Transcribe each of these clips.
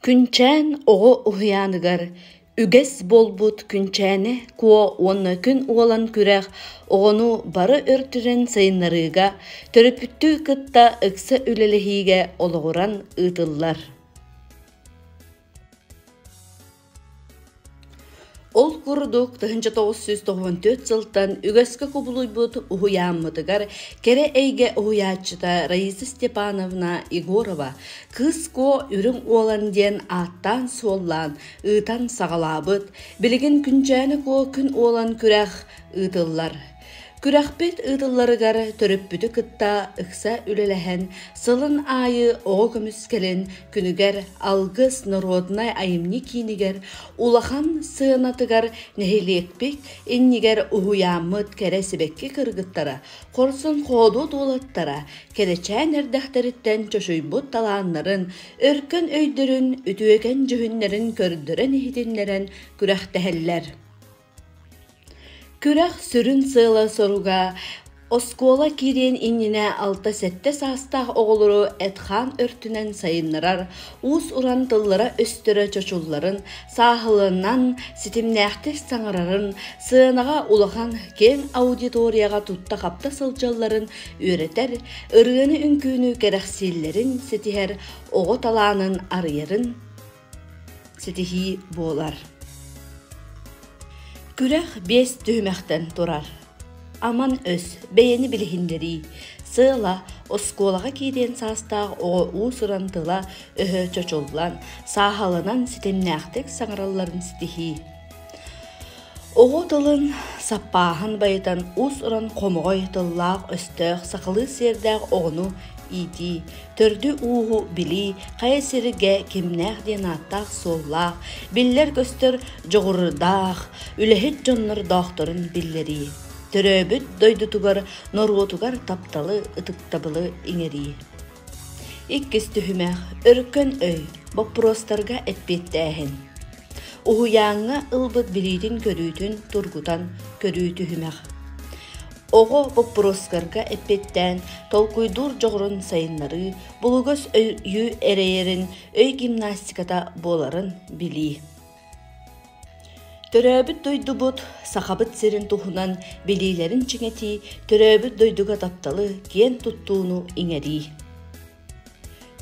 Күнчээн оҕо уһуйааныгар үгэс буолбут Күнчээни Куо уонна Күн Уолан Күрэх оҕону бары өртүнэн сайыннарыыга, төрөппүттүү кытта ыкса үлэлэһиигэ олоҕуран ыытыллар. Ол курдук, тыһыынча тоҕус сүүс тоҕуон төрт сылтан үгэскэ кубулуйбут уһуйааммытыгар кэрэ эйгэ уһуйааччыта Раиса Степановна Егорова «Кыыс Куо үрүҥ уолан» диэн ааттаан-суоллаан ыытан саҕалаабыт, билигин Күнчээни Куо күн уолан күрэх ыытыллар. Күрэхпит ыытылларыгар төрөппүтү кытта ыкса үлэлэһэн, сылын аайы оҕо көмүскэлин күнүгэр Алгыс норуодунай айымньы киинигэр улахан сыанатыгар нэһилиэкпит иннигэр уһуйааммыт кэрэ сибэкки кыргыттара, хорсун-хоодуот уолаттара кэрэчээн эрдэхтэриттэн чочуйбут талааннарын, өркөн өйдөрүн, үтүөкэн дьүһүннэрин көрдөрөн иһитиннэрэн күрэхтэһэллэр. Күрэх сүрүн сыала-соруга оскуола киириэн иннинэ алта-сэттэ саастаах оҕолору эт-хаан өртүнэн сайыннарар, уус-уран тыллара-өстөрө чочулларын, сааһыланан, ситимнээхтик саҥарарын, сыанаҕа улахан киэҥ аудиторияҕа тутта-хапта сылдьалларын үөрэтэр, ырыаны-үҥкүүнү кэрэхсииллэрин ситиһэр, оҕо талаанын арыйарын ситиһии буолар. Күрэх биэс түһүмэхтэн турар. Аман өс, бэйэни билиһиннэрии, сыала оскуолаҕа киириэн саастаах оҕо уус-уран тыла-өһө чочуллан, сааһаланан ситимнээхтик саҥаралларын ситиһии. Оҕо тылын саппааһын байытан уус-уран хомоҕой тыллаах-өстөөх сахалыы сиэрдээх оҕону иитии, төрдү-ууһу билии хайа сиргэ кимнээх диэн ааттаах-суоллаах, биллэр-көстөр дьоҕурдаах, үлэһит дьоннордоохторун биллэрии, төрөөбүт дойдутугар, норуотугар тапталы, ытыктабылы иҥэрии. Иккис түһүмэх Өркөн өй боппуруостарга эппиэттээһин. Уһуйааҥҥа ылбыт билиитин-көрүүтүн тургутан көрүү түһүмэх. Оҕо боппуруостарга эппиэттээн толкуйдуур дьоҕурун сайыннарыы, булугас өйү эрэйэрин өй гимнастиката буоларын билии. Төрөөбүт дойдубут Сахабыт сирин туһунан билиилэрин чиҥэтии, төрөөбүт дойдуга тапталы, киэн туттууну иҥэрии.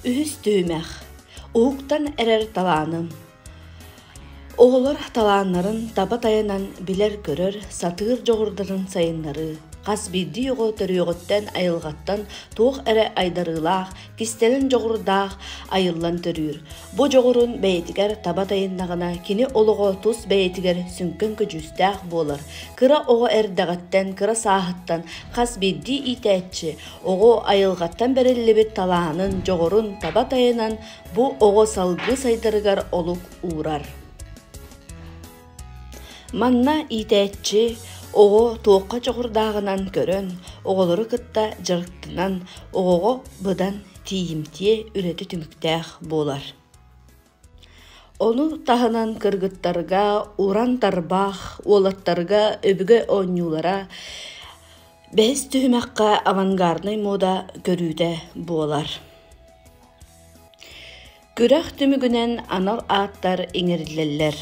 Үһүс түһүмэх. Уһуктан эрэр талааным. Оҕолор талааннарын таба тайанан билэр-көрөр, сатыыр дьоҕурдарын сайыннарыы, хас биирдии оҕо төрүөҕүттэн, айылҕаттан туох эрэ айдарыылаах, кистэлэҥ дьоҕурдаах айыллан төрүүр. Бу дьоҕурун бэйэтигэр таба тайыннаҕына, кини олоҕо тус бэйэтигэр сүҥкэн көдьүүстээх буолар. Кыра оҕо эрдэҕиттэн, кыра сааһыттан хас биирдии иитээччи оҕо айылҕаттан бэриллибит талаанын, дьоҕурун таба тайынан бу оҕо салгыы сайдарыгар олук уурар. Манна иитээччи оҕо туохха дьоҕурдааҕынан көрөн, оҕолору кытта дьарыктанан, оҕоҕо быдан тиийимтиэ үлэтэ түмүктээх буолар. Ону таһынан кыргыттарга уран тарбаах, уолаттарга өбүгэ оонньуулара, бэһис түһүмэххэ авангарднай муода көрүүтэ буолар. Күрэх түмүгүнэн анал ааттар иҥэриллэллэр.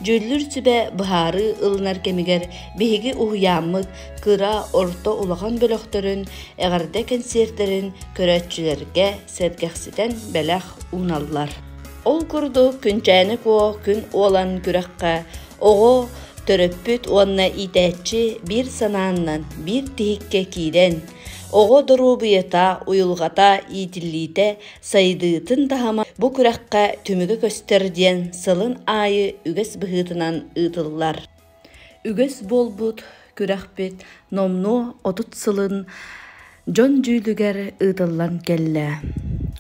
Дьүүллүүр сүбэ быһаарыы ылынар кэмигэр биһиги уһуйааммыт кыра, орто улахан бөлөхтөрүн, эҕэрдэ кэнсиэртэрин көрөөччүлэргэ сэргэхситэн бэлэх ууналлар. Ол курдук Күнчээни Куо күн уолан күрэххэ оҕо, төрөппүт уонна иитээччи биир санааннан биир тиһиккэ киирэн, оҕо доруобуйата, уйулҕата иитиллиитэ Сайдыытын таһыма бу күрэххэ түмүгү көстөр диэн сылын аайы үгэс быһыытынан ыытыллар. Үгэс буолбут күрэхпит номнуо 30 сылын дьон дьүүлүгэр ыытыллан кэллэ.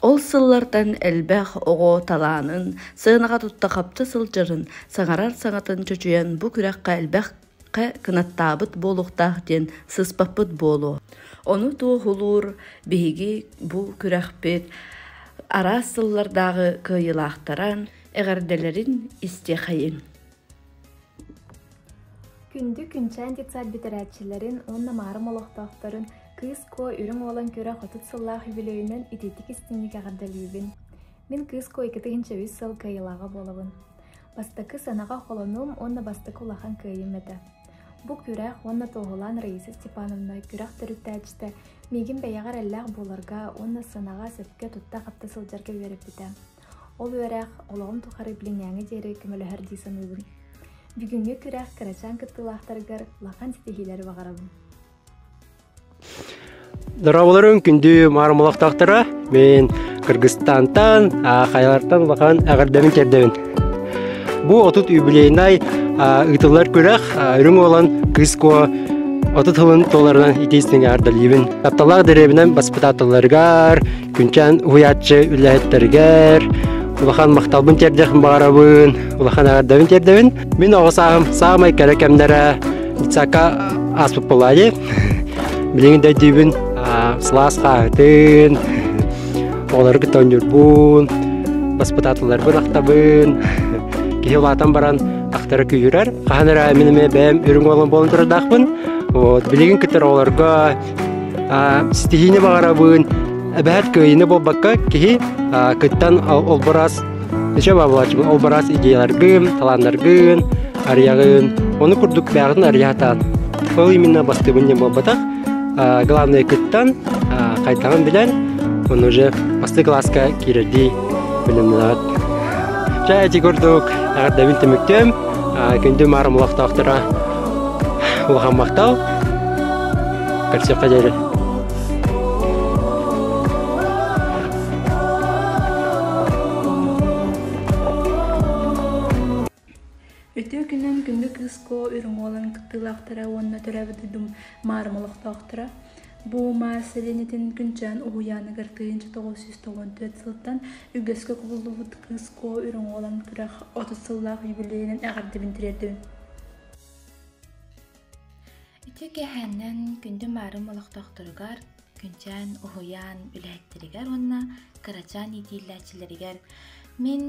Ол сыллартан элбэх оҕо талаанын, сыанаҕа тутта хапта сылдьарын, саҥарар саҥатын чочуйан бу күрэххэ элбэх хэ кынаттаабыт буолуохтаах диэн сыспаппыт буолуо ону туоһулуур биһиги бу күрэхпит араас сыллардааҕы кыайыылаахтаран эҕэрдэлэрин истиэхэйиҥ күндү күнчээн детсад бүтэрээччилэрин уонна маарым олохтоохторун кыыс куо үрүҥ уолан көрө хотут сыллаах үбүлүөйүнэн итиитик истиҥник эҕэрдэлиибин Мин кыыска икки тыһыынча үс сыл кыайыылааҕа буолабын. Бастакы сыанаҕа холонуум уонна бастакы улахан кыайыым этэ. Бу күрэх уонна туоһулаан Раиса Степановна күрэх төрүттээччитэ миигин бэйэҕэ эрэллээх буоларга уонна сыанаҕа сөпкө тутта-хапта сылдьарга үөрэппитэ. Ол үөрэх олоҕум тухары билиҥҥээҥи диэри көмөлөһөр дии саныыбын. Бүгүҥҥү күрэх кырачаан кыттыылаахтарыгар улахан ситиһиилэри баҕарабын. Дорооболорун күндү маарымалахтаахтара мен Кыргызстантан Хайалартан улахан эҕэрдэбин кердебин бу отут юбилейнай ыытыллар күрэх үрүҥ уолан кыыско отут хылын толларынан итиистинге ардалибин тапталаах дэриэбинэн баспытаатылларыгар күнчэн уһуйааччы үлэһиттэригэр улахан махталбын тердех баарабын улахан эҕэрдэбин тердебин Мин оҕосаахым саамай кэрэ кэмнэрэ детсакка ааспыт болаайы. Билигин да өйдүүбүн сылаас хаахытын, оҕолоргут оонньуурбун, баспыт аатыларбын ахтабын. Киһи улаатан баран ахтара күүрэр. Хаһан эрэ мин эмиэ бэйэм үрүҥ уолум буолан турардаахпын. Вот, билигин кытары оҕолорго ситиһиини баҕарабын. Эбэһэт кыайыыны буолбакка, киһи кыттан олбурас Эчэ баабалааччыбын ол бараас идеяларгын, талааннаргын арыйаҕын. Ону курдук бэҕэтин арыйаатаан. Ол именно бастыыбын диэн буолбатах. Главное кыттан, хайдаҕын билэн, ону уже бастыы кылааска киирэрдии билиннилэҕит. Чэ, эти курдук эҕэрдэбин түмүктүөм. Күндү маарым олохтоохторо улахан махтал. Көрсүөххэ диэри. Үтүө күнүн күндү кыыско үрүҥ уолун кыттыылаахтара уонна төрөөбүт дойдум маарым олохтоохторо бу маас сэлиэнньэтин күнчээн уһуйааныгар тыйынча тоҕус сүүс тоҕон түөрт сылтан үгэскэ кубуллубут кыыско үрүҥ уолан күрэх отут сыллаах юбилейынан эҕэрдэбин тириэрдэбин Ити кэһээннэн күндү маарым олохтоохторугар, күнчээн, уһуйаан үлэһиттэригэр уонна кырачаан иитиилээччилэригэр мин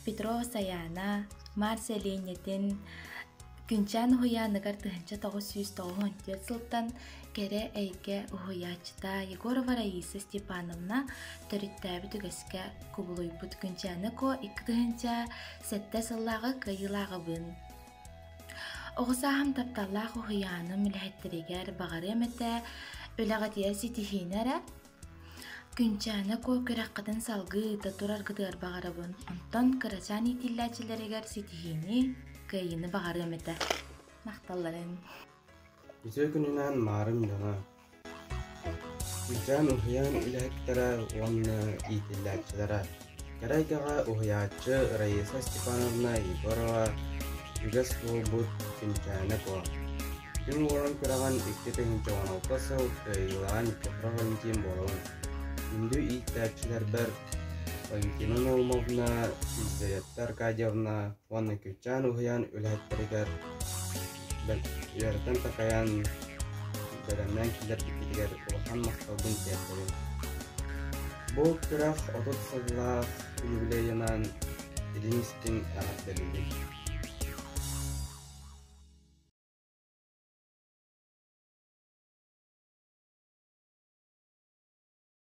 Петро Сайаана, Марся Ленятин күнчээн уһуйааныгар тыһыынча тоҕус сүүс тоҕуһун түөрт сылтан кэрэ эйгэ уһуйааччыта Егорова Раиса Степановна төрүттээбит үгэскэ кубулуйбут күнчээни ко икки тыһыынча сэттэ сыллааҕы кыайыылааҕыбын Оҕо сааһым тапталлаах уһуйааным үлэһиттэригэр баҕарыам этэ үлэҕитигэр ситиһиини эрэ. Күнчээни ко күрэххитин салгыыта тураргытыгар баҕарабын. Онтон кырачаан иитиллээччилэригэр ситиһиини, кыайыыны баҕарыам этэ. Махталларын. Үтүө күнүнэн, маарым дьоно! Кыычаан уһуйаан үлэһиттэрэ уонна иитиллээччилэрэ кэрэ эйгэҕэ уһуйааччы Раиса Степановна Егорова, үгэс буолбут Чинчээнэпо. Күн уолун күрэҕин икки тыһыынча уон алта сыл кыайыылаах Никифоров Валентин буолабын. Күндү ииттээччилэрбэр Валентина Наумовна, Иззавета Аркадьевна уонна Кыычаан уһуйаан үлэһиттэригэр Дьиэбитин такайан, бэлэмнээн киллэрбиппитигэр улахан махталбын тиэрдэбин. Бу күрэх отут сыллаах юбилейынан илин-истин эҕэрдэлиибин.